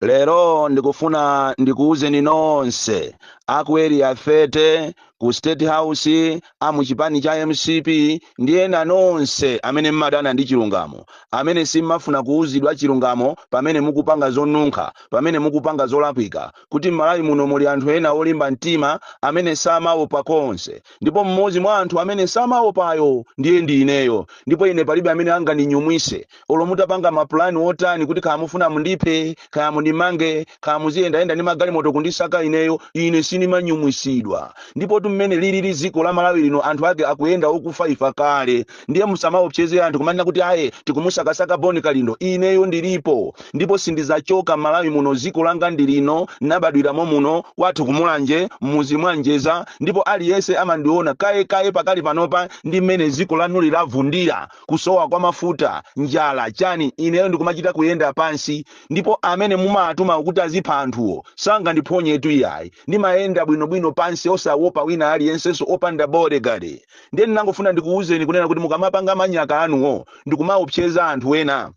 lero ndikufuna ndikuwuzeni nonse aku area 30 ku state house a mu chipani cha mcp ndi ena nonse amene mmadana ndi chilungamo amene simmafuna kuwuzidwa chilungamo pamene mukupanga zonunkha pamene mukupanga zolakwika kuti m'malawi muno muli anthu ena olimba mtima amene samaopa konse ndipo mmodzi mwa anthu amene samaopayo ndiye ndi ineyo ndipo ine palibe amene angandinyumwise olo mutapanga mapulani otani kuti kaya mufuna mundiphe kaya mundimange kaya muziyendayenda ndi magalimoto kundisaka ineyo ine sindimanyumwisidwa ndipotu mmene lilili dziko la malawi lino anthu ake akuyenda okufa ifa kale ndiye musamaopseze anthu kumanena kuti aye tikumusakasaka boni kalindo ineyo ndilipo ndipo sindizachoka malawi muno dziko langa ndilino nabadwiramo muno kwathu kumulanje mmuzi mwa njeza ndipo aliyense amandiona kaye pakali panopa ndi mmene dziko lanuli lavundira kusowa kwa mafuta, njala, chani, ineyo ndikumachita kuyenda pansi, ndipo amene mumawatumawo kuti azipha anthuwo sangandiphonyetu iyayi, ndimayenda bwinobwino pansi osawopa wina aliyensenso opanda bodyguard. Ndiye ndinangofuna ndikuwuzeni kunena kuti mukamapanga manyaka anuwo ndikumaopseza anthu ena,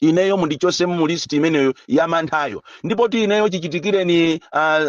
ineyo mundichose mu list imeneyo ya manthayo ndipotu ineyo chichitikireni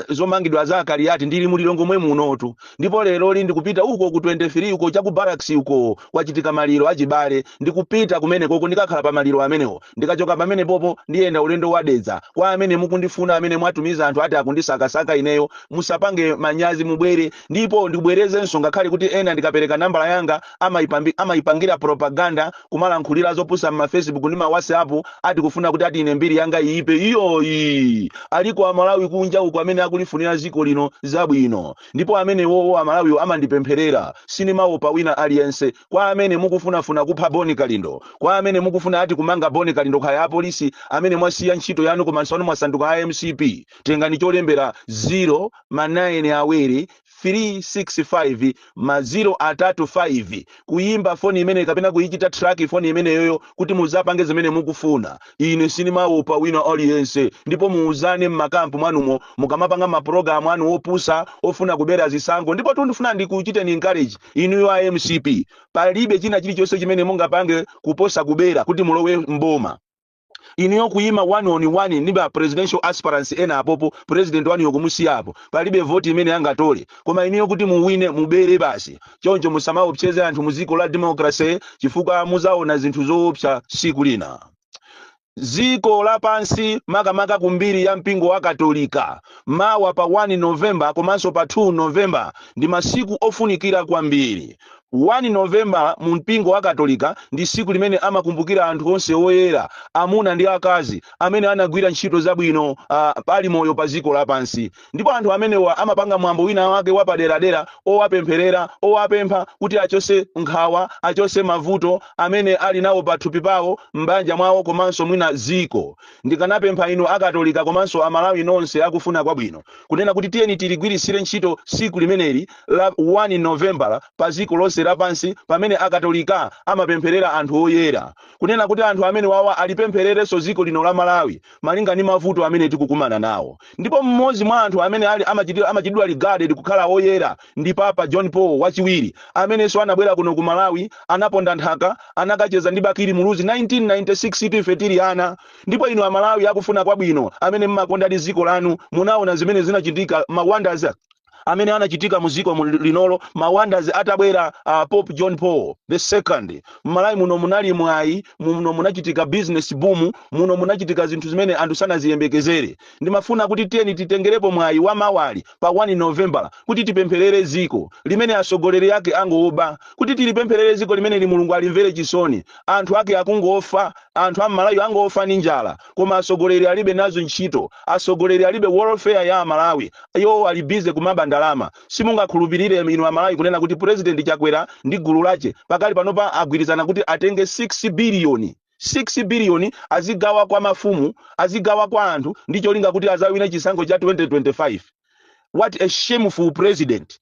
zomangidwa za akaliyati ndili mu lilongwe mwemunotu ndipo lero ndikupita uko ku 23 uko cha ku barracks uko kwachitika maliro achibale ndikupita kumenekoko ndikakhala pa maliro amenewo ndikachoka pamenepopo ndiyenda ulendo wa dedza kwa amene mukundifuna amene mwatumiza anthu ati akundisakasaka ineyo musapange manyazi mubwere ndipo ndibwerezenso ngakhale kuti ena ndikapereka nambala yanga amaipambi- amaipangira propaganda kumalankhulira zopusa mma facebook ndi ma whatsapp ati kufuna kuti ati ine mbiri yanga iyipe iyoyi aliko amalawi kunja uko amene akulifunira dziko lino zabwino ndipo amenewowo amalawiwo amandipempherera sinimaopa wina aliyense kwa amene mukufunafuna kupha boni kalindo kwa amene mukufuna ati kumanga boni kalindo kaya apolisi amene mwasiya ntchito yanu komanso anu mwasanduka a mcp tengani cholembera 0 ma 9 awiri 3 6 5 ma 0 atatu 5 kuyimba foni imeneyo kapena kuyichita track foni imeneyoyo kuti muzapange zimene mukufuna ine sinimawopa wina aliyense ndipo muuzane mmakampu mwanumo mukamapanga mapulogalamu anu opusa ofuna kubera zisankho ndipotu ndifuna ndikuchiteni encourage inuyo a mcp palibe china chilichonse chimene mungapange kuposa kubera kuti mulowe mboma inuyo kuyima one on one ndi ba presidential aspirants ena apopo president wanuyo kumusiya apo palibe voti imene angatole koma inuyo kuti muwine mubere basi choncho musamaopseze anthu mu dziko la democracy chifukwa muzaona zinthu zoopsa siku lina dziko lapansi makamaka ku mbiri ya mpingo wa katolika mawa pa 1 novemba komanso pa 2 novemba ndi masiku ofunikira kwambiri 1 Novembala mu mpingo wa Katolika ndi tsiku limene amakumbukira anthu onse oyera, amuna ndi akazi, amene anagwira ntchito zabwino a, ali moyo pa dziko lapansi. Ndipo anthu amenewa amapanga mwambo winawake wapaderadera owapempherera, owapempha kuti achotse nkhawa, achotse mavuto amene ali nawo pathupi pawo, m'banja mwawo komanso mwina dziko. Ndikanapempha inu a Katolika komanso a Malawi nonse akufuna kwabwino, kunena kuti tiyeni tiligwiritsire ntchito tsiku limeneli la 1 Novembala padziko lonse lapansi pamene Akatolika amapempherera anthu oyera. Kunena kuti anthu amenewawa alipemphererenso dziko lino la Malawi malinga ndi mavuto amene tikukumana nawo. Ndipo mmodzi mwa anthu amene amachitidwa regarded kukhala oyera ndi Papa John Paul wachiwiri amenenso anabwera kuno ku Malawi anaponda nthaka anakacheza ndi Bakili Muluzi 1996 tu ife tili ana. Ndipo inu Amalawi akufuna kwabwino amene mmakondadi dziko lanu munaona zimene zinachitika ma wonders amene anachitika mu dziko linolo ma wonders atabwera uh, pope john paul the second mmalawi muno munali mwayi muno munachitika business boom muno munachitika zinthu zimene anthu sanaziyembekezere ndimafuna kuti tiyeni titengerepo mwayi wa mawali pa 1 novembala kuti tipempherere dziko limene atsogoleri ake angoba kuti tilipempherere dziko limeneli mulungu alimvere chisoni anthu ake akungofa anthu a mmalawi angofa ndi njala koma asogoleri alibe nazo ntchito asogoleri alibe welfare ya amalawi iwo ali busy kumaba ndalama simungakhulupirire inu amalawi kunena kuti president chakwera ndi gulu lache pakali panopa agwirizana kuti atenge 6 biliyoni 6 biliyoni azigawa kwa mafumu azigawa kwa anthu ndi cholinga kuti azawine chisankho cha 2025 what a shameful president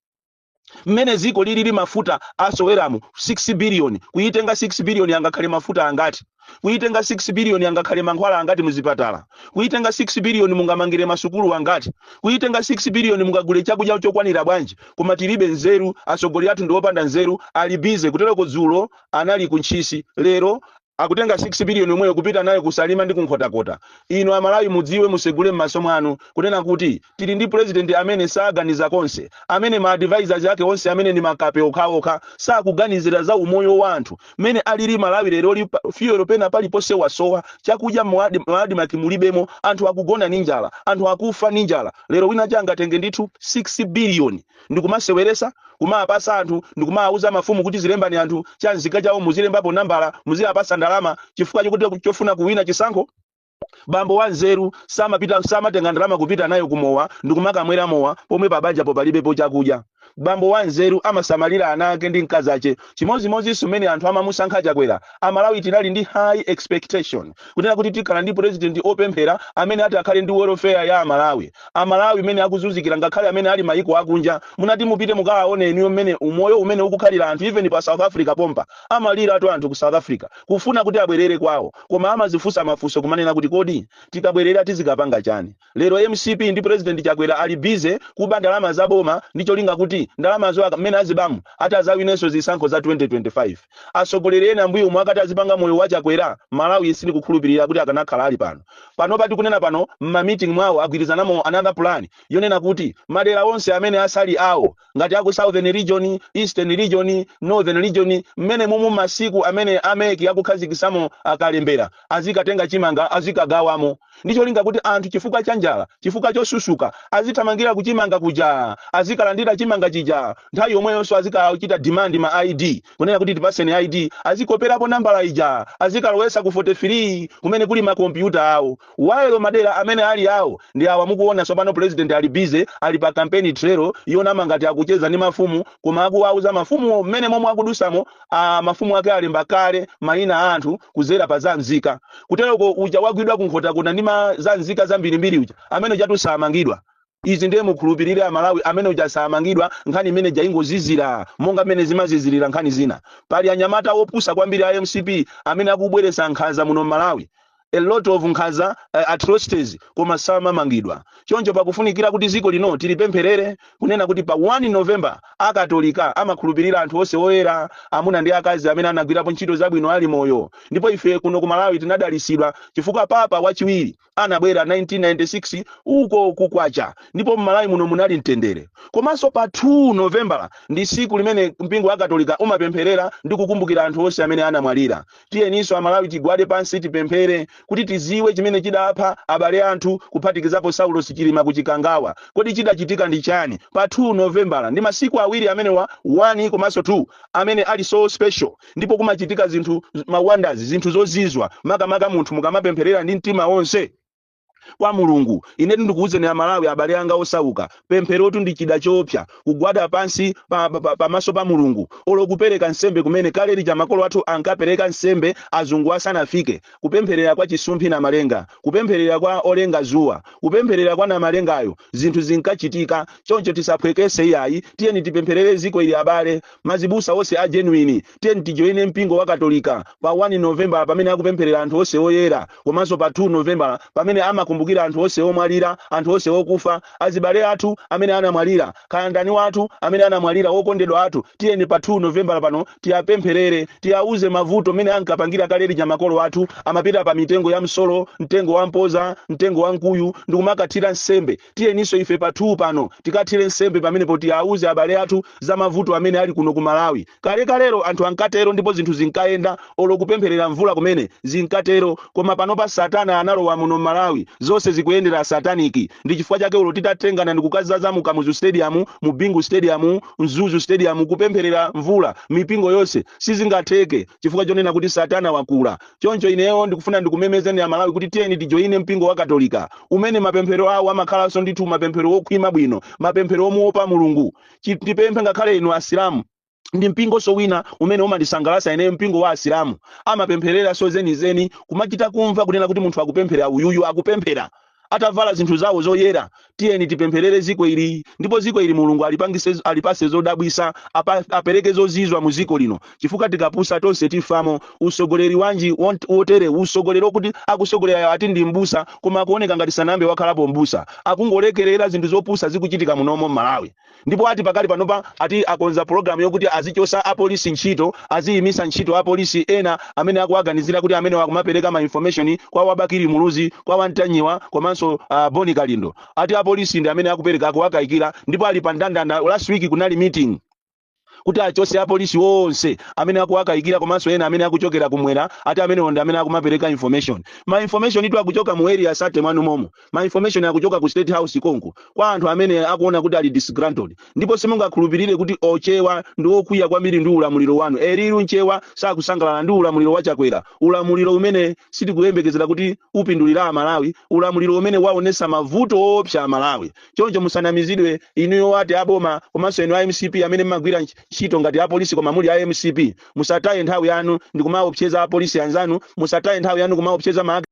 mmene dziko lilili mafuta asoweramu 6 biliyoni kuyitenga 6 biliyoni angakhale mafuta angati kuyitenga 6 biliyoni angakhale mankhwala angati muzipatala kuyitenga 6 biliyoni mungamangire masukulu angati kuyitenga 6 biliyoni mungagule chakudya chokwanira bwanji koma tilibe nzeru atsogoleri athu ndi opanda nzeru ali bize kutereko dzulo anali ku ntchisi lero Akutenga 6 billion yomweyo kupita nayo ku Salima ndi ku Nkhotakota. Inu a Malawi mudziwe musegule mmaso mwanu kunena kuti tili ndi president amene saganiza konse, amene ma advisers ake onse amene ndi makape okhaokha sakuganizira za umoyo wa anthu mmene alili Malawi leroli fuel pena paliponse wasowa, chakudya mu Admarc mulibemo, anthu akugona ndi njala, anthu akufa ndi njala. Lero wina wache angatenge ndithu 6 billion ndikumaseweresa kumawapasa anthu ndikumawauza mafumu kuti zilembani anthu cha nzika chawo muzilembapo nambala muziwapasa ndalama chifukwa chokuti chofuna kuwina chisankho bambo wa nzeru samatenga ndalama kupita nayo kumowa ndikumakamwera mowa pomwe pabanjapo palibepo chakudya bambo wa nzeru amasamalira ana ake ndi mkazi ache Chimodzimodzinso mmene anthu amamusankha Chakwera, Amalawi tinali ndi high expectation kunena kuti tikhala ndi President opemphera amene ati akhale ndi welfare ya Amalawi. Amalawi mmene akuzunzikira ngakhale amene ali maiko akunja muna ati mupite mukawaone eniyo mmene umoyo umene ukukhalira anthu even pa South Africa pompa amaliraatu anthu ku South Africa kufuna kuti abwerere kwao koma amazifunsa mafunso kumanena kuti kodi tikabwerera tizikapanga chani? Lero mcp ndi president Chakwera ali busy kuba ndalama za boma ndi cholinga kuti ndalamazo aka mmene azibamu atazawinenso zisankho za 2025. Atsogoleri ena mbuyomu akanati azipanga moyo wa Chakwera Malawi sindikukhulupilira kuti akanakhala ali pano. Panopa tikunena pano mma meeting mwawo agwirizanamo another plan yonena kuti madera onse amene asali awo ngati aku southern region eastern region northern region mmene mumu masiku amene a MEC akukhazikisamo akalembera azikatenga chimanga azikagawamo ndicholinga kuti anthu chifukwa cha njala chifukwa chosusuka azithamangira kuchimanga kuja azikalandira chimanga chija nthawi yomweyonso azikachita demand ma id kunena kuti tipaseni id azikoperapo nambala ija azikalowesa ku 43 kumene kuli makompyuta awo While madera amene ali awo ndi awa mukuona tsopano president ali busy ali pa campaign trail yonama ngati akucheza ndi mafumu koma akuwauza mafumu mmene momwe akudusamo aa mafumu ake alemba kale maina a anthu kuzera pa za nzika kuteroko uja wagwidwa ku nkhotakota ndi ma za nzika zambirimbiri uja amene ujatu samangidwa Izi ndiye mukhulupirire a Malawi amene uja samangidwa nkhani imene ija ingozizira monga mmene zimazizirira nkhani zina. Pali anyamata opusa kwambiri a mcp amene akubweretsa nkhanza muno Malawi a lot of nkhanza uh, atrocities koma samamangidwa. Choncho pakufunikira kuti ziko lino tilipempherere kunena kuti pa 1 November a Katolika amakhulupirira anthu onse oyera amuna ndi akazi amene anagwirapo ntchito zabwino ali moyo ndipo ife kuno ku Malawi tinadalitsidwa chifukwa Papa wachiwiri anabwera 1996 uko ku kwacha ndipo mmalawi muno munali mtendere komanso pa 2 novembala ndi siku limene mpingo wa katolika umapempherera ndi kukumbukira anthu onse amene anamwalira tiyeninso amalawi tigwade pansi tipemphere kuti tiziwe chimene chidapha abale athu kuphatikizapo saulos chilima ku chikangawa kodi chidachitika ndi chani pa 2 novembala ndi masiku awiri amenewa 1 komanso 2 amene ali so special ndipo kumachitika zinthu ma wonders zinthu zozizwa makamaka munthu mukamapempherera ndi mtima wonse kwa mulungu inetu ndikuwuzeni amalawi abale anga osauka pempherotu ndi chida choopsa kugwada pansi pamaso pa, pa, pamaso pa mulungu olo kupereka nsembe kumene kale lija makolo athu ankapereka nsembe azungu asanafike kupempherera kwa chisumphi namalenga kupempherera kwa olenga zuwa kupempherera kwa namalengayo zinthu zinkachitika choncho tisaphwekese iyayi tiyeni tipempherere ziko ili abale Mazibusa onse a genuine tiyeni tijoine mpingo wa katolika pa 1 Novembala pamene akupempherera anthu onse oyera komanso pa 2 Novembala pamene amakumbukira anthu onse omwalira, anthu onse okufa, azibale athu amene anamwalira, kaya ndani wathu amene anamwalira wokondedwa athu tiyeni pa 2 Novembala pano tiapempherere, tiauze mavuto mene ankapangira kale lija makolo athu amapita pa mitengo ya msolo, mtengo wa mpoza, mtengo wa mkuyu ndikumakathira nsembe tiyeninso ife pa 2 pano tikathire nsembe pamenepo, tiauze abale athu za mavuto amene ali kuno ku Malawi. Kalekalelo anthu ankatero ndipo zinthu zinkayenda, olo kupempherera mvula kumene, zinkatero. Koma panopa Satana analowa muno m'Malawi, zonse zikuyendera sataniki. Ndi chifukwa chake olo titatengana ndikukazaza mu Kamuzu Stadium, mu Bingu Stadium, Mzuzu Stadium kupempherera mvula, mipingo yonse, sizingatheke chifukwa chonena kuti Satana wakula. Choncho ineyo ndikufuna ndikumemezeni Amalawi kuti tiyeni tijoine mpingo wa Katolika, umene mapemphero awo amakhalanso ndithu mapemphero wokhwima bwino, mapemphero womuopa Mulungu. Ndipemphe ngakhale inu Asilamu. Ndi mpingonso wina umene umandisangalatsa ineyo, mpingo wa Asilamu. Amapemphereranso zenizeni, kumachita kumva kunena kuti munthu akupemphera uyuyu akupemphera. atavala zinthu zawo zoyera tiyeni tipempherere ziko ili ndipo ziko ili mulungu alipangise alipase zodabwisa apa- apereke zozizwa mu ziko lino chifukwa tikapusa tonse tifamo usogoleri wanji wont- wotere usogoleri okuti akusogolerayo ati ndi mbusa koma akuoneka ngati sanambe wakhalapo mbusa akungolekerera zinthu zopusa zikuchitika munomo m'malawi ndipo ati pakali panopa ati akonza pologalamu yokuti azichosa apolisi ntchito aziyimisa ntchito apolisi ena amene akuwaganizira kuti amene akumapereka ma information kwa wa bakili muluzi kwa wa ntanyiwa komanso uh, bon kalindo ati apolisi ndi amene akupereka akuwakayikira ndipo ali pa ndandanda last week kunali meeting kuti achose apolisi onse amene akuwakayikira komanso ena amene akuchokera kumwera ati amenewo ndi amene akumapereka information ma information itu akuchoka mu area 30 mwanu momo ma information akuchoka ku state house konko kwa anthu amene akuona kuti ali disgruntled ndipo simungakhulupirire kuti ochewa ndi okwiya kwambiri ndi ulamuliro wanu a real mchewa sakusangalala ndi ulamuliro wa chakwera ulamuliro umene sitikuyembekezera kuti upindulira amalawi ulamuliro umene waonesa mavuto oopsa amalawi choncho musanamizidwe inuyo ati aboma komanso inu a mcp amene mmagwira ntch- ntchito ngati apolisi koma muli a mcp musataye nthawi yanu ndikumaopseza apolisi anzanu musataye nthawi yanu kumaopseza ma